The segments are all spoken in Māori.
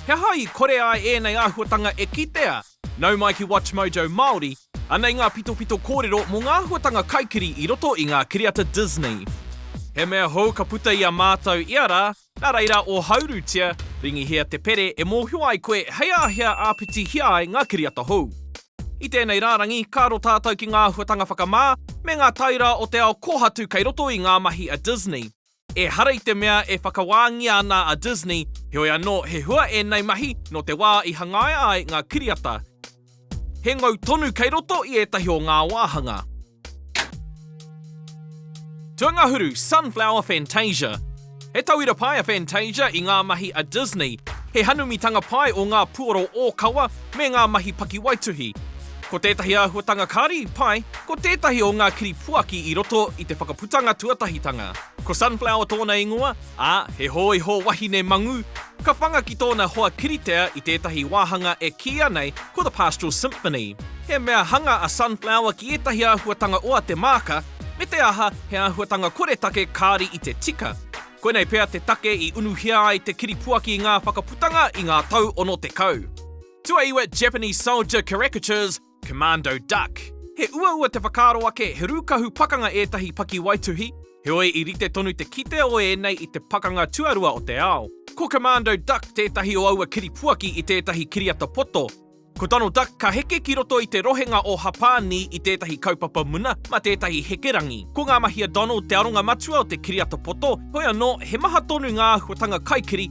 He aha i kore ai ēnei āhuatanga e kitea? Nau mai ki WatchMojo Māori, anei ngā pitopito kōrero mō ngā āhuatanga kaikiri i roto i ngā kiriata Disney. He mea hou ka puta i a mātou ia rā, nā reira o Haurutia, ringihia te pere e mōhio ai koe hei āhea āpitihia ai ngā kiriata hou. I tēnei rārangi, ka aro tātou ki ngā āhuatanga whakamā me ngā tairā o te ao kōhatu kei roto i ngā mahi a Disney. Ehara i te mea e whakawāngia ana a Disney, heoi anō he hua ēnei mahi nō te wā i hangaia ai ngā kiriata. He ngau tonu kei roto i ētahi o ngā wāhanga. Tuangahuru, Sunflower Fantasia He tauira pai a Fantasia i ngā mahi a Disney. He hanumitanga pai o ngā puoro ōkawa me ngā mahi pakiwaituhi. Ko tētahi āhuatanga kāri i pai, ko tētahi o ngā kiri puaki i roto i te whakaputanga tuatahitanga. Ko Sunflower tōna ingoa, ā, he hōiho wahine mangū. Ka whanga ki tōna hoa kiritea i tētahi wāhanga e kīia nei ko The Pastoral Symphony. He mea hanga a Sunflower ki ētahi āhuatanga o a Te Maaka, me te aha, he āhuatanga koretake kāri i te tika. Koinei pea te take i unuhia ai te kiri puaki i ngā whakaputanga i ngā tau ono tekau. Tuaiwa Japanese soldier caricatures, Commando Duck. He uaua te whakaaro ake he rūkahu pakanga ētahi pakiwaituhi, heoi i rite tonu te kite o ēnei i te pakanga tuarua o te ao. Ko Commando Duck tētahi o aua kiripuaki i tētahi kiriata poto. Ko Donald Duck ka heke ki roto i te rohenga o Hapānī i tētahi kaupapa muna mā tētahi hekerangi. Ko ngā mahi a Donald te aronga matua o te kiriata poto, heoi anō, he maha tonu ngā āhuatanga kaikiri,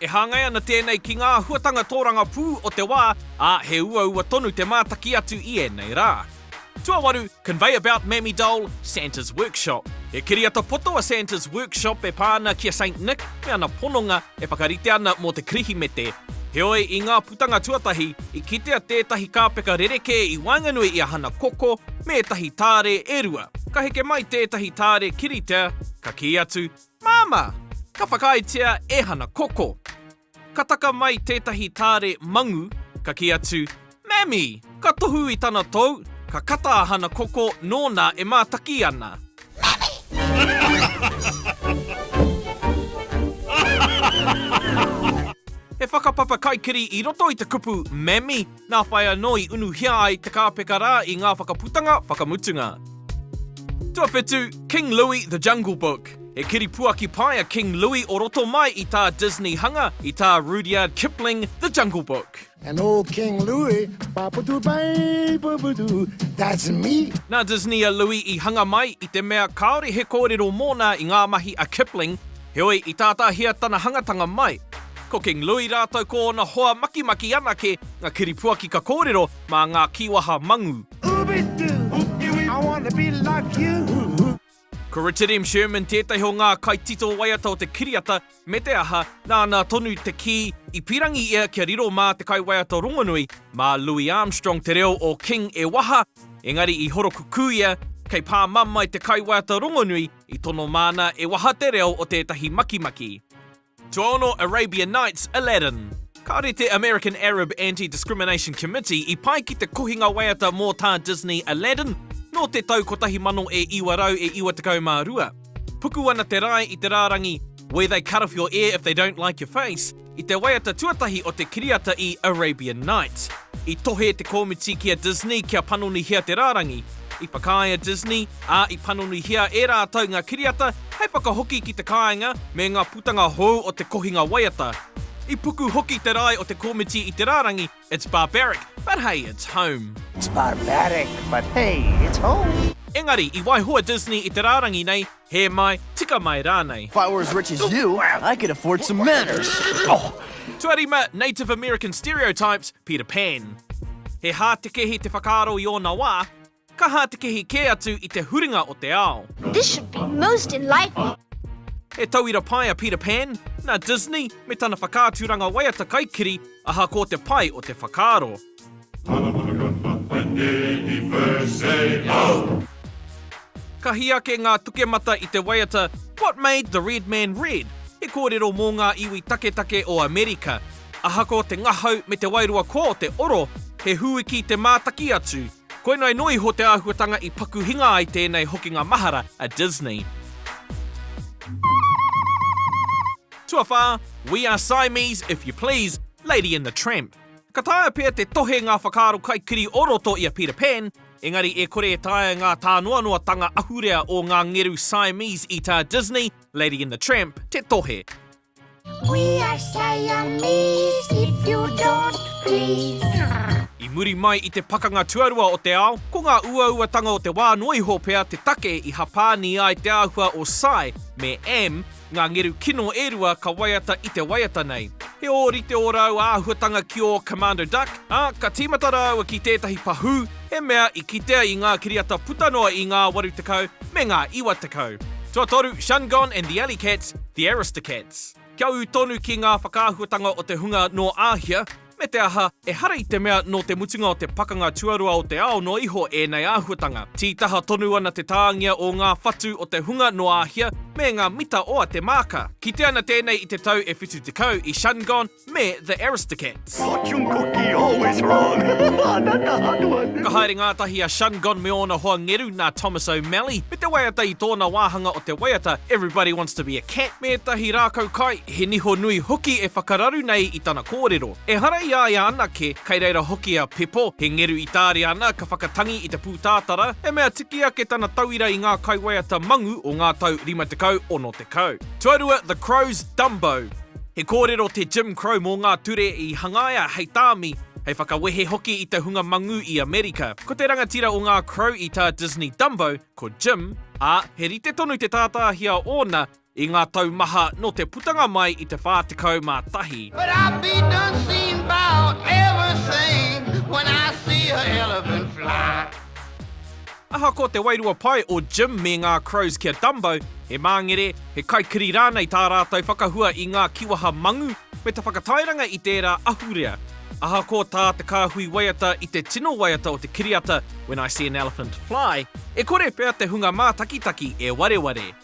E hāngai ana tēnei ki ngā āhuatanga tōrangapū o te wā, ā, he uaua tonu te mātaki atu i ēnei rā. Tuawaru, Convey about Mammy Doll, Santa's Workshop. He kiriata poto a Santa's Workshop e pā ana ki a Saint Nick me ana pononga e whakarite ana mō te Kirihimete. Heoi, i ngā putanga tuatahi, i kitea tētahi kāpeka rerekē i waenganui i a Hana Koko me ētahi tāre e rua. Ka heke mai tētahi tāre kiritea, ka kī atu, Māmā! Ka whakaaetia e Hana Koko. Ka taka mai tētahi tāre mangu, ka kī atu, Mammy! Ka tohu i tana tou, ka kata a Hana Koko nōna e mātaki ana. Mammy! He whakapapa kaikiri i roto i te kupu Mammy! Nā whai anō i unuhia ai te kāpeka rā i ngā whakaputanga whakamutunga. Tuawhitu, King Louie, The Jungle Book. He kiripuaki pai a King Louie o roto mai i tā Disney hanga, i tā Rudyard Kipling, The Jungle Book. And old King Louie, Paputu pai, puputu, that's me! Nā Disney a Louie i hanga mai, i te mea kāore he kōrero mōna i ngā mahi a Kipling, Heoi, i tātāhia tana hangatanga mai, ko King Louie rātou ko ōna hoa makimaki anake ngā kiripuaki ka kōrero mā ngā kīwaha mangū. Ko Richard M. Sherman tētahi o ngā kaitito waiata o te kiriata, me te aha, nāna tonu te kī i pīrangi ia kia riro mā te kaiwaiata rongonui, mā Louie Armstrong te reo o King e waha, engari i horokukū ia, kei pā mamae te kaiwaiata rongonui, I tono māna e waha te reo o tētahi makimaki. Tuaono Arabian Nights, Aladdin. Kāore te American Arab Anti-Discrimination Committee i pae ki te kohinga waiata mō tā Disney Aladdin nō te tau 1992. Puku ana te rae i te rārangi Where they cut off your ear if they don't like your face. I te waiata tuatahi o te kiriata i Arabian Nights, i tohe te kōmiti ki a Disney kia panonihia te rārangi. I whakaae a Disney, ā, i panonihia e rātou ngā kiriata hei whakahoki ki te kāinga me ngā putanga hou o te kohinga waiata. I puku hoki te rae o te kōmiti i te rārangi It's barbaric, but hey, it's home. It's barbaric, but hey, it's home. Engari, i waiho a Disney i te rārangi nei Hē mai, tika mai rānei. If I were as rich as you, I could afford some manners! Tuarima, Native American stereotypes, Peter Pan. He hātekehi te whakaaro i ōna wā, ka hātekehi kē atu i te huringa o te ao. This should be most enlightening. He tauira pai a Peter Pan, nā Disney me tana whakaaturanga waiata kaikiri, ahakoa te pai o te whakaaro. Ka hī ake ngā tukemata i te waiata What Made the Red Man Red? He kōrero mō ngā iwi taketake o Amerika. Ahakoa te ngahau me te wairua kō te oro, he hūiki te mātaki atu. Koinei noa iho te āhuatanga i paku hinga ai tēnei hokinga mahara a Disney. Tuawhā, We Are Siamese, If You Please, Lady and the Tramp. Ka taea pea te tohe ngā whakaaro kaikiri o roto i a Peter Pan, engari e kore e taea ngā tānoanoatanga ahurea o ngā ngeru Siamese i tā Disney, Lady and the Tramp, te tohe. We are Siamese if you don't please. I muri mai i te Pakanga Tuarua o te Ao, ko ngā uauatanga o te wā noa iho pea te take i hapāni ai te āhua o Cy me Am, Ngā ngeru kino e rua ka waiata i te waiata nei. He ōrite ō rāua āhuatanga ki ō Commando Duck, ā, ka tīmata rāua ki tētahi pahū, he mea i kitea i ngā kiriata puta noa i ngā 80 me ngā 90. Tuatoru, Shungon and the Alley Cats, The Aristocats. Kia ū tonu ki ngā whakaahuatanga o te hunga nō Āhia, me te aha, ehara i te mea nō te mutunga o te Pakanga Tuarua o te Ao noa iho ēnei āhuatanga. Tītaha tonu ana te tāngia o ngā whatu o te hunga nō Āhia me ngā mita o a Te Maaka. Kite ana tēnei i te tau e 70 i Shungon me The Aristocats. Ka haere ngātahi a Shungon me ōna hoa ngeru nā Thomas O'Malley me te waiata i tōna wāhanga o te waiata Everybody Wants to be a Cat, me ētahi rākau kai, He niho nui hoki e whakararu nei i tana kōrero. Ehara i a ia anake, kei reira hoki a Pepo, he ngeru i tāria ana ka whakatangi i te pūtātara, he mea tiki ake tana tauira i ngā kaiwaiata mangu o ngā tau 50, 60. Tuarua The Crows Dumbo. He kōrero te Jim Crow mō ngā ture i hangaia hei tāmi, hei whakawehe hoki i te hunga mangu i Amerika. Ko te rangatira o ngā Crow i tā Disney Dumbo, ko Jim, ā, he rite tonu te tātāhia ōna, I ngā tau maha nō te putanga mai i te 41. But I'll be done seen about everything when I see a elephant fly. Ahakoa te wairua pai o Jim me ngā Crows ki a Dumbo, he māngere, he kaikiri rānei tā rātou whakahua i ngā kiwaha mangu me te whakatairanga i tērā ahurea. Ahakoa tā te kāhui waiata i te tino waiata o te kiriata When I See an Elephant Fly, e kore pea te hunga mātakitaki e wareware.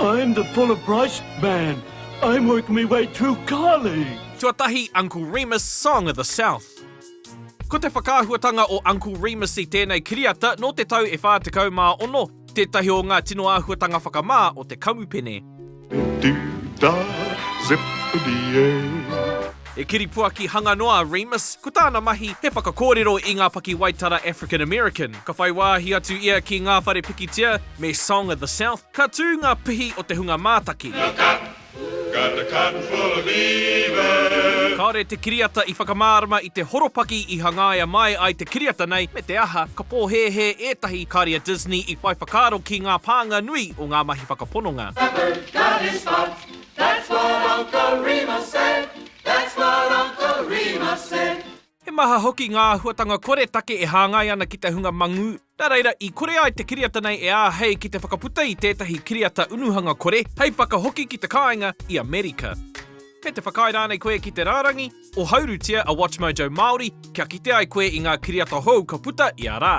I'm the full of price man, I'm working me way too Carly! Tuatahi, Uncle Remus, Song of the South. Ko te whakaahuatanga o Uncle Remus i tēnei kiriata nō te tau e 46, tētahi o ngā tino āhuatanga whakamā o te kamupene. Dip da, zip-a-dee-ay, He kiripuaki hanga noa a Remus, ko tāna mahi he whakakōrero i ngā pakiwaitara African American. Ka whai wāhi atu ia ki ngā whare pikitia me Song of the South, ka tū ngā pihi o te hunga mātaki. Look up! Got a cotton full of beavers! Kāore te kiriata i whakamārama i te horopaki i hangaia mai ai te kiriata nei, me te aha, ka pōhēhē ētahi kāre a Disney i whai whakaaro ki ngā pānga nui o ngā mahi whakapononga. The bird got his spots. That's what Uncle Remus said, that's what Uncle Remus said. He maha hoki ngā āhuatanga koretake e hāngai ana ki te hunga mangū, nā reira i kore ai te kiriata nei e āhei ki te whakaputa i tētahi kiriata unuhanga kore hei whakahoki ki te kāinga i Amerika. Kei te whakaae rānei koe ki te rārangi? Ohaurutia a WatchMojo Māori kia kite ai koe i ngā kiriata hou ka puta ia rā.